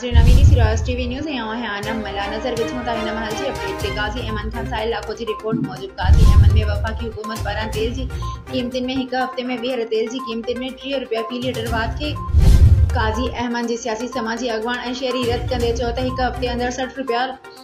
ناظرين اوهين ڏسي رهيا آهيو ٽي وي نيوز ۽ آئون آهيان انعم ملا نظر وجهون ٿا هن مهل جي اپڊيٽ تي غازي ايمن کان سائل لاکو جي رپورٽ موجب غازي ايمن ۾ وفاقي حڪومت پاران تيل جي قيمتن ۾ هڪ هفتي ۾ ٻيهر تيل جي قيمتن ۾ ٽيهه رپيا في ليٽر واڌ کي غازي ايمن جي سياسي سماجي اڳواڻ ۽ شهري رد ڪندي چيو ته هڪ هفتي اندر سٺ رپيا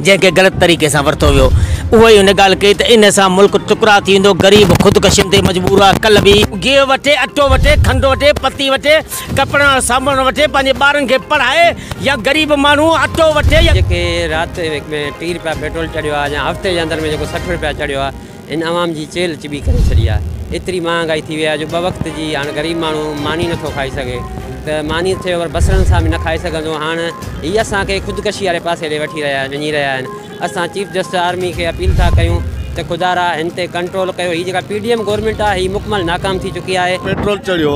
جنهن کي غلط طريقي سان ورتو ويو اهو ئي هن ڳالهه ڪئي ته ان سان ملڪ ٽڪرا ٿي ويندو غريب خودڪشين تي مجبور هئا ڪل به گيهه وٺي اٽو وٺي کنڊ وٺي پتي وٺي ڪپڙن وارو سامان وٺي پنهنجي ٻارن کي پڙهائي يا غريب ماڻهو اٽو وٺي يا. جيڪي رات ۾ ٽي رپيا پيٽرول چڙهيو آهي يا هفتي جي اندر ۾ جيڪو سٺ رپيا چڙهيو آهي. هن عوام جي چيلهه چٻي ڪري ڇڏي آهي. ايتري مهانگائي ٿي وئي آهي جو ٻه وقت جي هاڻ غريب ماڻهو ماني نٿو کائي سگهي ته ماني ٿئي پر بصرن سان به نه کائي سگهندو. هاڻ هي اسان کي خودڪشي واري پاسي ڏي وٺي رهيا وڃي رهيا آهن. اسان چيف جسٽس آرمي کي اپيل ٿا ڪيون ته خدا را هن تي ڪنٽرول ڪيو. هي جيڪا پي ڊي ايم گورنمينٽ آهي هي مڪمل ناڪام ٿي چڪي آهي. پيٽرول چڙهيو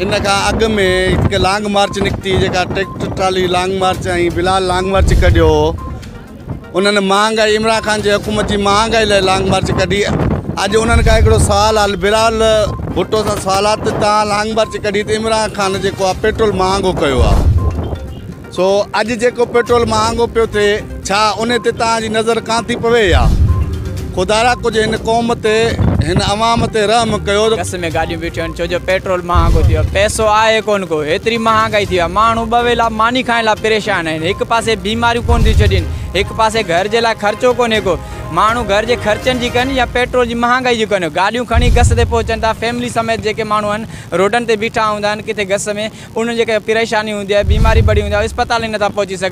ان کان اڳ ۾ هڪ لانگ مارچ نڪتي جيڪا tractor trolley long march ۽ Bilal long march ڪڍيو هو. انهن مهانگ آئي عمران خان جي حڪومت جي مهانگ آئي لاء لانگ مارچ ڪڍي اڄ انهن کان هڪڙو سوال آ بلال ڀٽو سان سوال آ ته تان لانگ مارچ ڪڍي ته عمران خان جيڪو آ پيٽرول مهانگو ڪيو آ سو اڄ جيڪو پيٽرول مهانگو پيو ٿي ڇا انهي تي تان جي نظر ڪان ٿي پوي يا خدايا ڪجهه هن قوم تي هن عوام تي رحم ڪيو. گس ۾ گاڏيون بيٺيون آهن ڇو جو پيٽرول مهانگو ٿي ويو آهي پئسو آهي ڪونه ڪو هيتري مهانگائي ٿي وئي آهي ماڻهو ٻه ويلا ماني کائڻ لاء پريشان آهن هڪ پاسي بيماريون ڪونه ٿيون ڇڏين هڪ پاسي گهر جي لاء خرچو ڪونهي ڪو ماڻهو گهر جي خرچن جي ڪن يا پيٽرول جي مهانگائي جي ڪن گاڏيون کڻي گس تي پهچن ٿا فيملي سميت جيڪي ماڻهو آهن روڊن تي بيٺا هوندا آهن ڪٿي گس ۾ انهن جي ڪري پريشاني هوندي آهي بيماري بڙي هوندي آهي اسپتال ئي نٿا پهچي سگهن